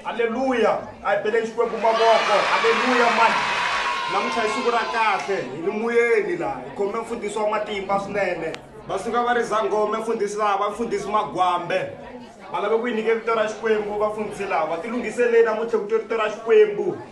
halleluya a hi beleni xikwembu mavoko halleluya mani namuntlha hi siku ra kahle hi ni muyeni laha hi khome mfundhisi wa matimba swinene va suka va ri zangome mfundhisi laha va mfundhisi magwambe va lave ku yi nyike vito ra xikwembu vafundhisi lava ti lunghiseleni namuntlha ku to rito ra xikwembu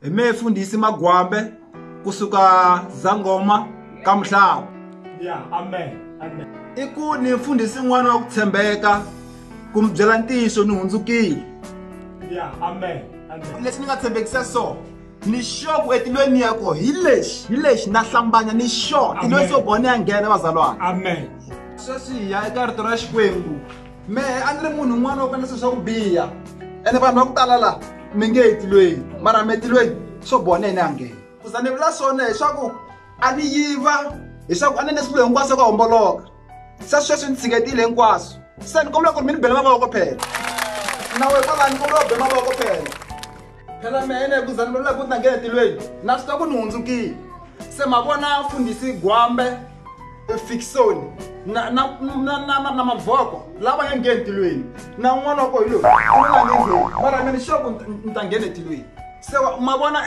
hi me fundhisi magwambe kusuka zangoma ka mhlava yeah, amen, amen. i ku ni mfundhisi n'wana wa ku tshembeka ku mi byela ntiyiso ni hundzukile yeah, amen, amen. leswi ni nga tshembekisa so ni sure ku etilweni ya ko hi lexi hi lexi na hlambanya ni sure tilweni so bone ya nghena vazalwana amen sweswi hi ya eka rito ra xikwembu mehe a ni ri munhu un'wana wa ku endla swi swa ku biha ene vanhu va ku tala laha mi nge etilweni mara mi etilweni swo boha na yena a nghena ku za ni vula swona hileswaku a ni yiva hileswaku a ni ne swilo hinkwaswo ka homboloka se sweswi ni tshiketile hinkwaswo se ni kombela ku ri mi ni bela mavoko phela nawe kwalani kombela u be mavoko phela phela mina ekuzani lolula ku ta ngehetilweni na swi ta ku ni hundzukile se ma vona fundhisi gwambe efikisoni na na na na na mavoko lava nga ngheni tilweni na un'wana wa ko hi loyi un'wana nge ngheni mara mina xoko ni ta nghena etilweni se ma vona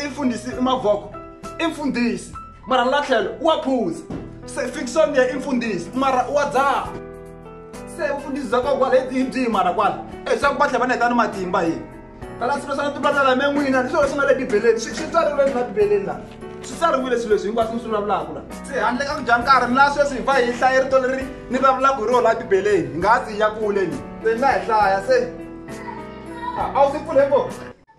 i fundhisi i mavoko i mfundhisi mara la tlhelo wa phuza se fikisoni ya i mfundhisi mara wa dzaha se vufundhisi bya kokwa leti hi byihi mara kwala e swa ku va tlhe va ni heta ni matimba hi tala swilo swa timbala la me n'wina ni swilo leswi nga le bibeleni swi tsariwile ni na bibeleni la swi tsariwile swilo leswi hinkwaswo ni swi vulavulaka la se handle ka ku dya nkarhi mi la sweswi hi va hi hlaye rito leri ni vulavulaka hi rona la bibeleni hi nga ha tsiya kule ni se ni nga hi hlaya se a wu swi pfule ko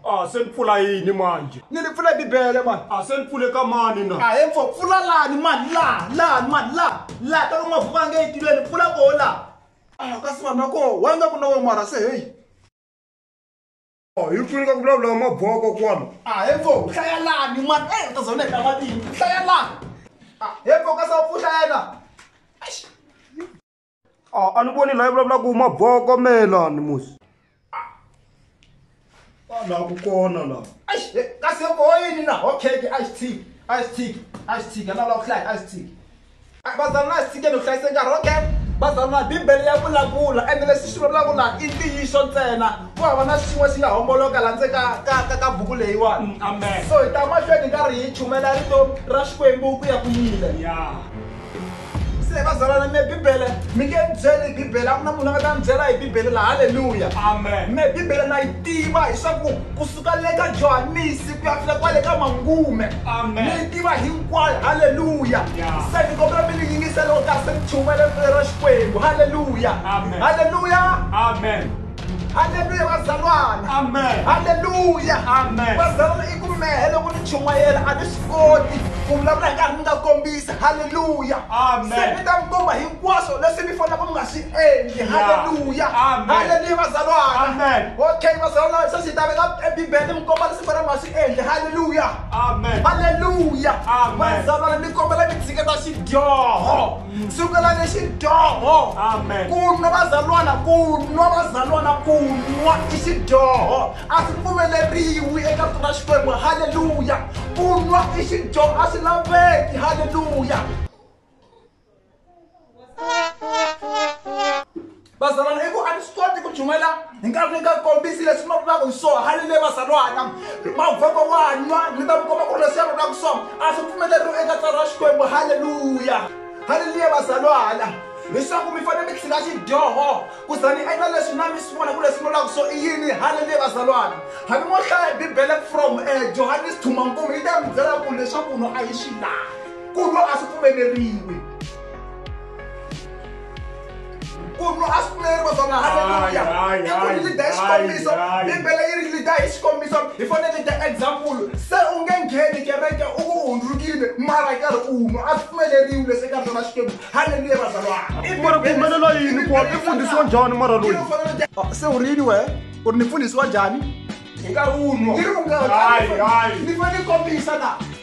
a se ni pfula yini manje ni li pfule bibele mani a se ni pfule ka mani na a he mpfo pfula lani mani laha lani mani laha laha ta ka mavuka a nge yi tiveni pfula koho laha a kasi vanhu va koho wa nga ku na wo mara se heyi hi pfuni ka ku vulavula maboko kwala a he pfo hlaya lani mani e u ta zona hi ta matini hlaya lani a he pfo ka sa u pfuhla yena a ni voni laha vulavulaka ku maboko melani musi laha ku kona laha kasi boyini na hokeke a xi tshiki a xi tshiki a xi tshiki a lava ku hlaya a xi tshiki Bazalwa na hi tshikeni ku hlayisa nkarhi okay bazalwa bibele ya vulavula ende leswi swi vulavulaka laha i ntiyiso ntsena ku hava na xin'we xi nga homboloka laha ndze ka ka ka ka buku leyiwani mm, amen so hi ta mahlweni hi karhi hi chumela rito ra xikwembu ku ya ku yile se bazalwana me bibele mi nge ni byeli hi bibele a ku na munhu a nga ta ni byela hi bibele la halleluya amen me bibele na yi tiva hi swa ku kusuka le ka johanisi papila kwale ka mangume ni tiva hinkwayo halleluya se ni kombela mi ni yingisa loko ka se ni chumayela rito ra xikwembu halleluya halleluya halleluya vazalwana halleluya vazalwana i ku mehe loko ni chumayela a ni swi koti ku vulavula hi nkarhi ni nga kombisa halleluya se ni ta mi komba hi hinkwaswo leswi mi fanelaka mi nga swi endli halleluya halleluya vazalwana okay vazalwana se swi ta veka ebibele mi komba leswi fanele mi nga swi endli halleluya halleluya vazalwana mi kombela mi tshiketa xidyoho sukela ni xidyoho ku nwa vazalwana ku nwa vazalwana ku nwa i xidyoho a swi pfumeleriwi eka rito ra xikwembu halleluya ku nwa i xidyoho a swi laveki halleluya bazalwana i ku a ni swi koti ku chumayela hi nkarhi ni nga kombisi leswi ma vulaka hi swona hali le vazalwana mavhoko wa nwa ni ta mi komba ku ri leswi ya vulaka swona a swi pfumeleriwi eka tswari ra xikwembu halleluya halleluya vazalwana leswaku mi fanele mi tlhila xidyoho ku za ni endla leswi na mi swi vona ku leswi vulaka swo i yini halleluya vazalwana hambi mo hlaya bibele from um johannes thumankumu yi ta mi byela ku leswaku no a yi swi lavi ku nwa a swi pfumeleriwi ku nwa a swi pfumeleriwi swona haleluya i ku ri lida hi xikombiso bibele yi ri lida hi xikombiso hi fanele lida example se u nge ngheni kereke u ku hundzukile mara karhi u nwa a swi pfumeleriwi leswi eka rona xikwembu haleluya vazalwana mara ku humelela yini ku i fundhisiwa njhani mara loyi ah, se u ri yini wehe u ri ni fundhisiwa njhani hi nkarhi wunwa ni ri u nga ni fanele kombisa na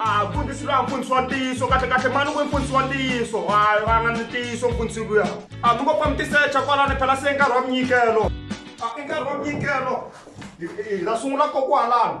a mfundhisi loyi a mfundhisi wa ntiyiso kahle kahle mani ku mfundhisi wa ntiyiso hayi va nga ni ntiyiso mfundhisi luya a mi ngo pfa mi tisecha kwalani phela se nkarhi wa minyikelo a i nkarhi wa minyikelo hi la sungula kokwalano